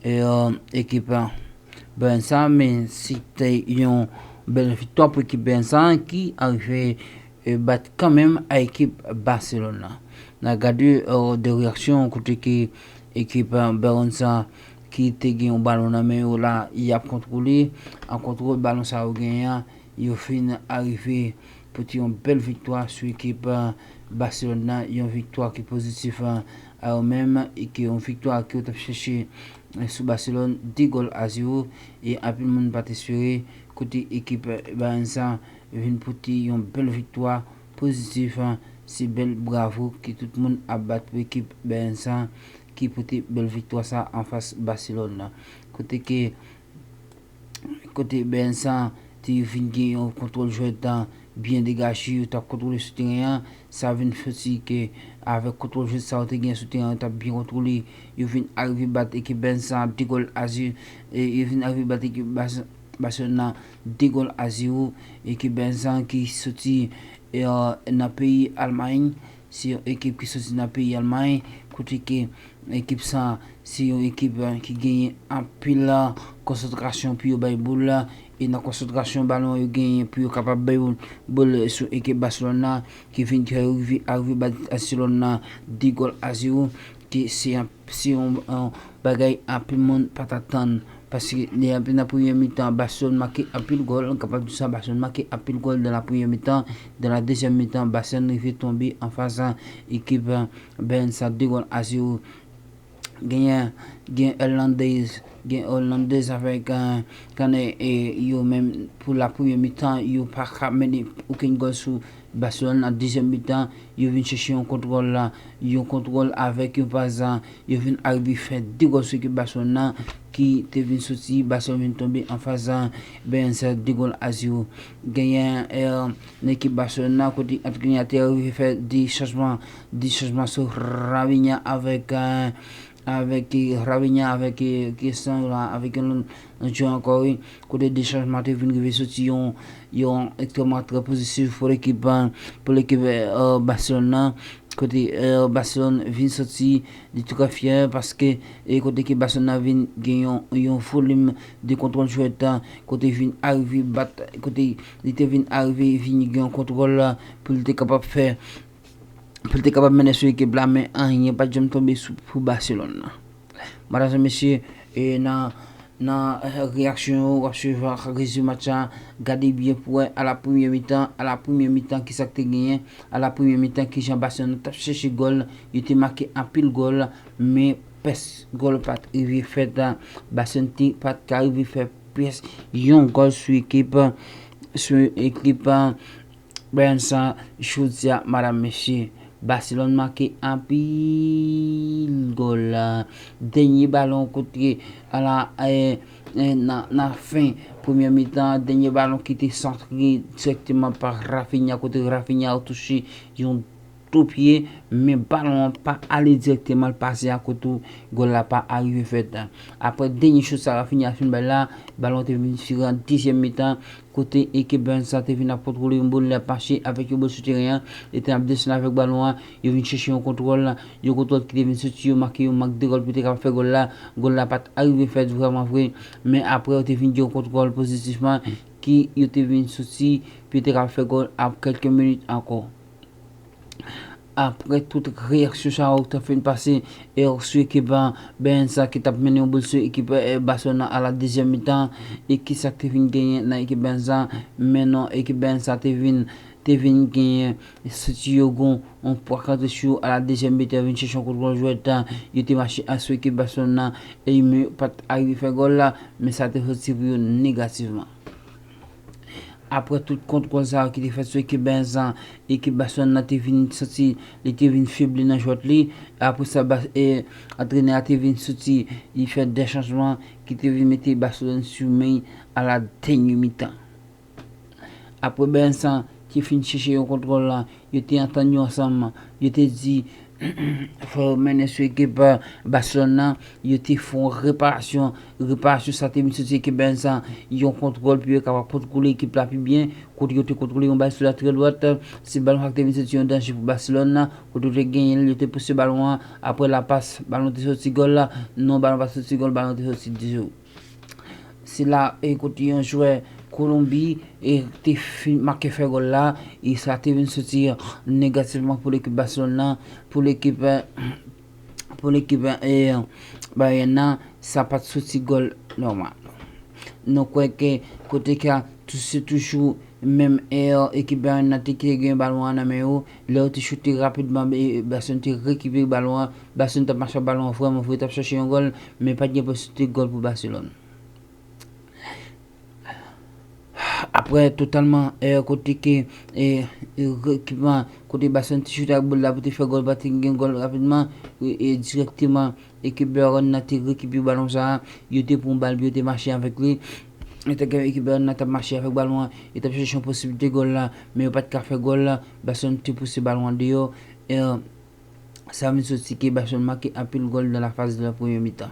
Yo ekip Bern sa men si te yon bèl viktwa pou ekip Bern sa ki arive bat kanmenm a ekip Barcelone la. Na gade 2 reyaksyon kote ke ekip Bern sa ki te gen yon balon nan men yo la yap kontwole a kontwol balon sa yo genyen an yo fin arive pote yon bèl viktwa sou ekip Barcelone la yon viktwa ki pozitif. a yo menm e ke yon viktwa ke yo t ap chèche sou Baselòn 2 gòl a 0 e anpil moun pa t espere kote ekip Bayern sa vin pote yon bèl viktwa pozitif se bèl bravo ke tout moun ap bat pou ekip Bayern sa ki pote bèl viktwa sa anfas Baselòn kote ke Kote Bernsa te yo fin gen yon kontwòl jwèt la byen degaje yo tap kontwole sou teren an sa vin soti ke avèk kontwòl jwèt sa yo te gen sou teren an yo tap byen kontwole yo vin arive bat ekip Bernsa 2 gòl a 0 yo vin arive bat ekip Barcelone nan 2 gòl a 0 ekip Bernsa ki soti nan peyi Almay. Se yon ekip ki soti nan peyi Almay, kote ke ekip sa a se yon ekip ki genyen anpil konsantrasyon pou yo bay boul, e nan konsantrasyon balon yo genyen pou yo kapab bay boul sou ekip Barcelone la, ki vin fè yo rive arive bat Barcelone la 2 gòl a 0, ke se yon bagay anpil moun pa t atann. Paske li antre nan premye mitan, Barcelone make anpil gòl, nou kapab di sa, Barcelone make anpil gòl dan la premye mitan, dan la dezyèm mitan, Barcelone rive tonbe anfas ekip Bayern sa 2 gòl a 0. Genyen, gen Hollandais, gen Hollandais avèk Kane e yo menm pou la premye mitan yo paka mennen okenn gòl sou. Barcelone nan dezyèm mitan yo vin chèche yon kontwòl, yon kontwòl avèk yon pas yo vin arive fè 2 gòl sou ekip Barcelone nan ki te vin soti Barcelone vin tonbe anfas Bens 2 gòl a 0. Genyen nan ekip Barcelone nan kote antre li a te arive fè 2 chanjman, 2 chanjman sou Raphinha avèk Raphinha avèk Christian avèk yon Nou di w ankò wi, kote 2 chanjman te vin rive soti yon yon ekstrèmman trè pozitif pou lekip pou lekip Barcelone nan, kote Barcelone vin soti li trè fyè paske e kote ke Barcelone nan vin gen yon yon volim de kontwòl jwèt kote vin arive bat kote li te vin arive vin gen yon kontwòl pou li te kapab fè pou l te kapab mennen sou ekip la men anyen pat janm tonbe pou Baselòn nan. Matadò mesye e nan nan reyaksyon yo wap swiv ak rezime match la gade byen pou wè ala premye mitan ala premye mitan kisa k te genyen ala premye mitan kijan Baselòn tap chèche gòl yo te make anpil gòl men pès gòl pat rive fèt Baselòn te pat ka rive fè pyès yon gòl sou ekip sou ekip Bryan san chout sa madam mesye. Baselòn make anpil gòl la dènye balon kote ala nan fen premyè mitan an dènye balon ki te santre dirèkteman pa Raphinha kote Raphinha touche yon Tou pye, men balon an pa ale direkteman l pase akote ou, gòl la pa arive fèt. Aprè dènye chout sa Raphinha fin bay la, balon an te vin diferan an dezyèm mitan, kote ekip Burns la te vin ap kontwole yon boul, li ap mache avèk yo bò sou teren an, li te ap desann avèk balon an, yo vin chèche yon kontwòl, yon kontwòl ki te vin soti yo make yon mank de gòl pou te kapab fè gòl la, gòl la pat arive fèt vrèman vre, men aprè yo te vin gen yon kontwòl pozitifman ki yo te vin soti pou yo te kapab fè gòl ap kèlke minit ankò. Aprè tout reyaksyon sa yo ta fin pase e yo sou ekip Bayern sa ki tap mennen yon boul sou ekip Barcelona a la dezyèm mitan e ki sak te vin genyen nan ekip Bayern sa men non ekip Bayern sa te vin te vin genyen soti yo gon yon pwa kante sou yo a la dezyèm mitan yo vin chèche yon kout gòl jwèt yo te mache a sou ekip Barcelona e men yo pat arive fè gòl la men sa te soti pou yo negativman. Aprè tout kontwòl sa yo ki te fèt sou ekip Benzan, ekip Baselòn nan te vin santi li te vin febli nan jwèt li. E aprè sa antrenè a te vin soti, li fè 2 chanjman ki te vin mete Baselòn sou men a la dènye mitan. Aprè Benzan te fin chèche yon kontwòl la, Yo te antann yo ansanm. Yo te di, Fò yo mennen sou ekip Basilòn nan. Yo te fè yon reparasyon. Reparasyon sa a te vin soti ekip Benz la. Yon kontwòl pou yo kapab kontwole ekip la pi byen. Kote yo te kontwole yon bal sou latrye dwat. Se balon sa a ki te vin soti yon danje pou Basilòn nan. Kote yo te genyen l, yo te pouse balon an. Aprè lapas, balon te soti gòl. Non, balon pa t soti gòl. Balon te soti ditou. Se la e kote yon jwè Kolonbi e te fin make fè gòl la e sa te vin soti negativman pou lekip Baselòn nan pou lekip pou lekip e Bayèn nan sa pat soti gòl nòmal. Nou kwè ke kote ka se toujou menm e ekip Bayèn nan te gen balon an nan men yo Lè yo te choute rapidman, Basson te rekipere balon an. Basson t ap mache ak balon an vrèman fò, yo t ap chèche yon gòl, men pa t gen posiblite gòl pou Baselòn. Aprè totalman èr kote ke ekipman kote Basson te choute ak bòl la pou te fè gòl pa te gen gòl rapidman, dirèkteman ekip Bèarn nan te rekipere balon sa a, yo te pran bal pou yo te mache avèk li. An tan ke ekip Bernard tap mache avèk balon an, yo tap chèche yon posiblite gòl la, men yo pat ka fè gòl la, Barcelone te pouse balon an deyò, e sa vin soti ke Barcelone make anpil gòl dan la faz de la premye mitan.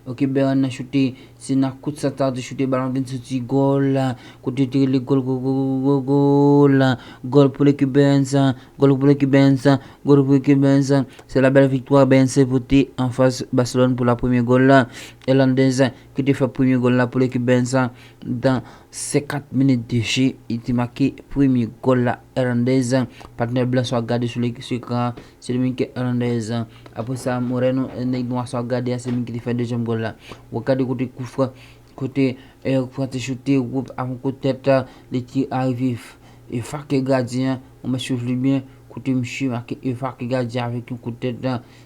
Ok Bernard choute, se nan kout santa te choute balon vin soti gòl la, kote yo te rele gòl gòlgòlgòlgòl la, gòl pou lekip Bern's, gòl pou lekip Bern's, gòl pou lekip Bern's, se la bèl viktwa Bern's te pote anfas Barcelone pou la premye gòl la, Hernandez. ki te fè premye gòl la pou lekip Benz la nan 50 minit de je, li te make premye gòl la Hernandez, patnè blan sa w ap gade sou ekran an, se li menm ki Hernandez, apre sa Moreno, nèg nwa sa w ap gade a, se li menm ki te fè dezyèm gòl la, w ap gade kote kou fran, kote Eric Fran te choute, woup, avèk yon kout tèt, li te arive efake gadyen an, w mèt swiv li byen, kote misye make efake gadyen an avèk yon kout tèt,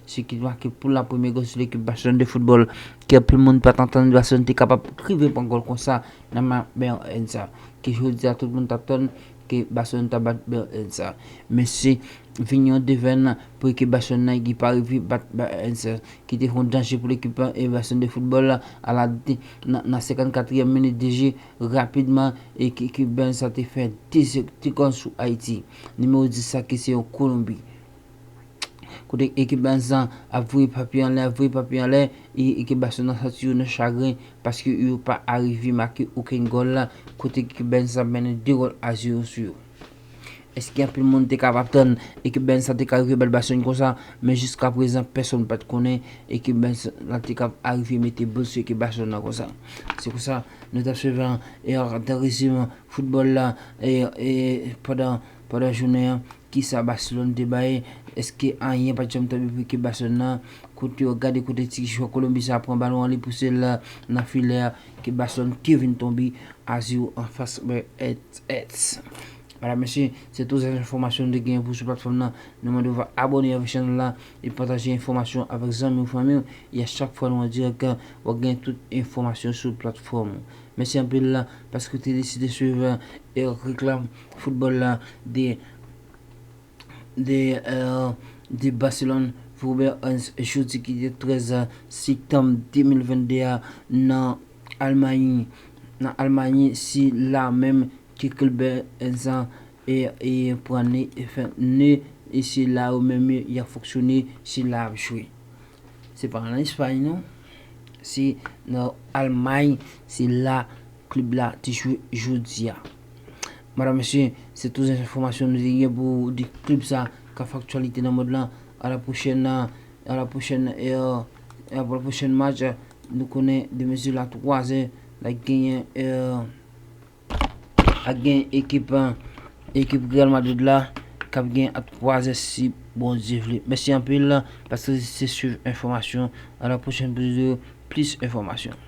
se ki te make pou la premye gòl sou ekip Barcelone de football ke anpil moun pat antann Barcelone te kapab rive pran gòl konsa nan ma Berlin sa ke jodi a tout moun tap tann ke Barcelone ta bat Berlin sa men se vini yon devenn pou ekip Barcelone nan ki pa rive bat Berlin sa ki te fè yon danje pou ekip Barcelone de football a la nan 54 yèm minit de je rapidman ekip Berlin sa te fè 2 gòl sou Ayiti nimewo 10 sa ki se yon kolonbi Kote ekip Bans lan ap voye papi anlè ap voye papi anlè e ekip Barcelona santi yo nan chagren paske yo pa arive make okenn gòl kote ekip Bans lan mennen 2 gòl a 0 sou yo. Eske anpil moun te kapab tann ekip Bans lan te ka rive bat Barcelone konsa men jiska prezan pèsonn pat konnen ekip Bans lan te kab arive mete boul sou ekip Barcelone lan konsa. Se konsa nou tap swiv an rezime foutbòl la pandan jounen an. Kisa Barcelone te bay? Eske anyen pat janm tonbe pou ekip Barcelone nan? Kote yo gade kote ti jwè Kolonbi sa pran balon an li pousel nan filè a ekip Barcelone ki vin tonbe a 0 anfas Betis. Mèdam mesye, se tout zan enfòmasyon nou te genyen pou sou platfòm nan. Nou mandew va abòne avèk chanèl la e pataje enfòmasyon avèk zanmiw fanmiw e a chak fwa nou an dirèk wap genyen tout enfòmasyon sou platfòm. Mèsi anpil paske w te deside swiv Eric Réclame. Football la de de Barcelone Robert Hans jodi ki te 13 septanm 2022 a nan Almay nan Almay si la menm ke klub Hans an e pran ne e se la yo menm yap fonksyone se la yap jwe. Se pa an Espagne non. Se nan Allemagne se la klub la te jwe jodi a. Madam mesye, se tou zan enfomasyon nou te gen pou di klub sa ka fè aktyalite nan mond lan. A la pwochèn a la pwochèn e a pou la pwochèn match nou konnen de mezi la 3 zè la genyen e. Ak gen ekip ekip Real Madrid la kap gen ap kwaze si Bondye vle. Mèsi anpil paske se swiv enfòmasyon a la pwochèn pou plis enfòmasyon.